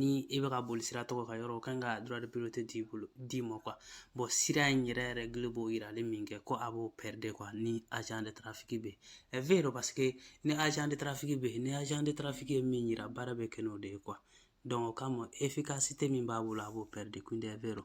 ni i bɛ ka boli sira tɔgɔ ka yɔrɔ kan ka droit de priorité d'i ma quoi bon sira in yɛrɛ règle b'o yirali min kɛ ko a b'o perdre quoi ni agent de trafic bɛ yen è vero parce que ni agent de trafic bɛ yen ni agent de trafic ye min yira baara bɛ kɛ n'o de ye quoi donc o kama efficacité min b'a bolo a b'o perdre quindi è vero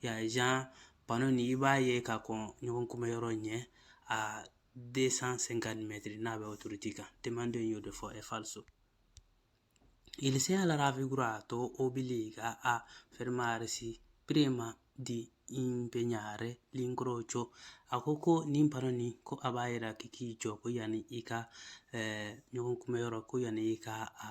y'a ye genre pano ni i b'a ye ka kɔn ɲɔgɔn kunbɛ yɔrɔ ɲɛ a 250 mètres n'a bɛ autoroute kan demande y'o de fɔ è falso il segnale raffigurato obbliga a fermarsi prima di impegnare l'incrocio a ko ko nin pano ni ko a b'a yira k'i k'i jɔ ko yanni i ka eh, ɲɔgɔn kunbɛ yɔrɔ ko yanni i ka a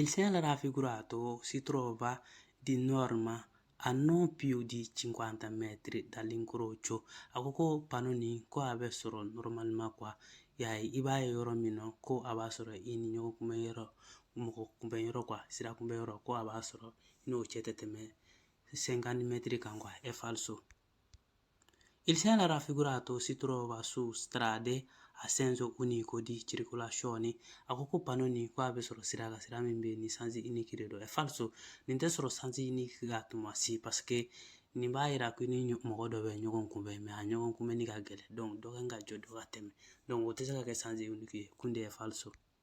Il segnale raffigurato si trova di norma a non più di 50 metri dall'incrocio a ko ko pano nin ko a bɛ sɔrɔ normalement quoi y'a ye i b'a ye yɔrɔ min na ko a b'a sɔrɔ i ni ɲɔgɔn kunbɛn yɔrɔ mɔgɔ kunbɛn yɔrɔ quoi sira kunbɛn yɔrɔ ko a b'a sɔrɔ i n'o cɛ tɛ tɛmɛ 50 mètres kan quoi è falso Il segnale raffigurato si trova su strade a senso unico di circolazione a ko ko pano nin ko a bɛ sɔrɔ sira la sira min bɛ yen ni sens unique de don è falso nin tɛ sɔrɔ sens unique kan tuma si parce que nin b'a yira ko ni mɔgɔ dɔ bɛ ɲɔgɔn kunbɛn mais a ɲɔgɔn kunbɛnni ka gɛlɛn donc dɔ kan ka jɔ dɔ ka tɛmɛ donc o tɛ se ka kɛ sens unique ye quindi è falso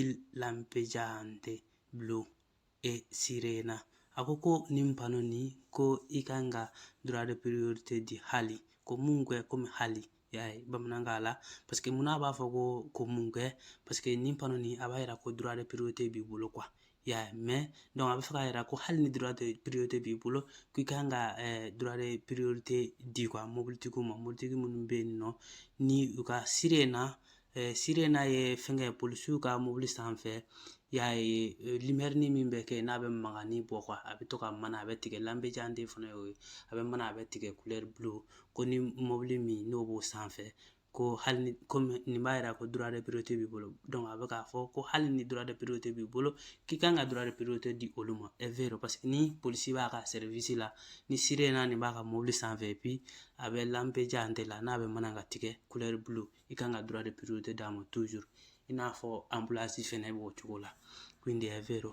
il lampeggiante blu e sirena a ko ko nin pano ni ko i kan ka droit de priorité di hali comunque komi hali y'a ye bamanankan la parce que mun na a b'a fɔ ko comunque parce que nin pano ni a b'a yira ko droit de priorité b'i bolo quoi y'a ye mais donc a bɛ fɛ k'a yira ko hali ni droit de priorité b'i bolo k'i kan ka droit de priorité di quoi mobilitigiw ma mobilitigi minnu bɛ yen nɔ ni u ka sirena sirena ye fɛnkɛ polisiw ka mobili sanfɛ y'a ye limɛrini min bɛ kɛ n'a bɛ mankanni bɔ quoi a bɛ to ka mana a bɛ tigɛ lampeggiante fana ye o ye a bɛ mana a bɛ tigɛ couleur bleu ko ni mobili min n'o b'o sanfɛ ko hali ni comme nin b'a yira ko droit de priorité b'i bolo donc a bɛ k'a fɔ ko hali ni droit de priorité b'i bolo k'i kan ka droit de priorité di olu ma è vero parce que ni polisi b'a ka service la ni sirena nin b'a ka mobili sanfɛ et puis a bɛ lampeggiante la n'a bɛ mana ka tigɛ couleur bleu i kan ka droit de priorité d'a ma toujours i n'a fɔ ambulance fɛnɛ b'o cogo la quindi è vero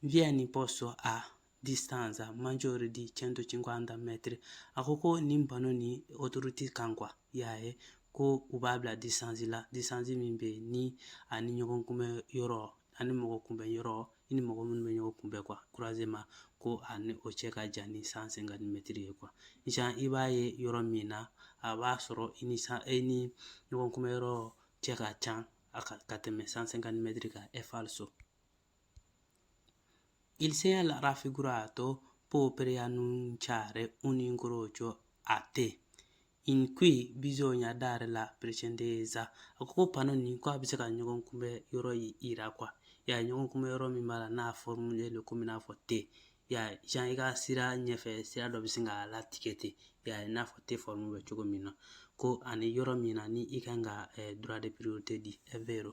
viene posto a distanza maggiore di 150 metri a ko ko nin pano ni autoroute kan quoi y'a ye ko u b'a bila distance la distance min bɛ yen ni a ni ɲɔgɔn kunbɛ yɔrɔ ani mɔgɔ kunbɛn yɔrɔ i ni mɔgɔ minnu bɛ ɲɔgɔn kunbɛ quoi croisement ko a ni o cɛ ka jan ni 150 mètres ye quoi genre i b'a ye yɔrɔ min na a b'a sɔrɔ i ni san e ni ɲɔgɔn kunbɛ yɔrɔ cɛ ka jan a ka tɛmɛ 150 mètres kan è falso Il segnale raffigurato può preannunciare un incrocio a te in cui bisogna dare la precedenza. A ko pano ni ko a bɛ se ka ɲɔgɔn kunbɛn yɔrɔ yira quoi ya ɲɔgɔn kunbɛn yɔrɔ min b'a la n'a formule don komi n'a fɔ te ya genre i ka sira ɲɛfɛ sira dɔ bɛ sin k'a latigɛ ten ya n'a fɔ te forme bɛ cogo min na ko ani yɔrɔ min na ni i kan ka eh, droit de priorité di è vero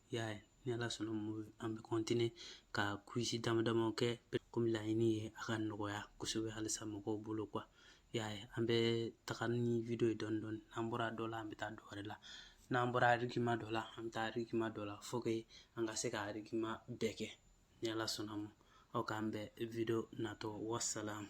y'a ye ni ala sɔnna ma an bɛ continuer ka quiz dama dama kɛ komi laɲini ye a ka nɔgɔya kosɛbɛ halisa mɔgɔw bolo quoi y'a ye an bɛ taga ni video ye dɔɔni dɔɔni n'an bɔra dɔ la an bɛ taa dɔ wɛrɛ la n'an bɔra argument dɔ la an bɛ taa argument dɔ la faut que an ka se ka argument bɛɛ kɛ ni ala sɔnna ma aw k'an bɛn video natɔ wasalamu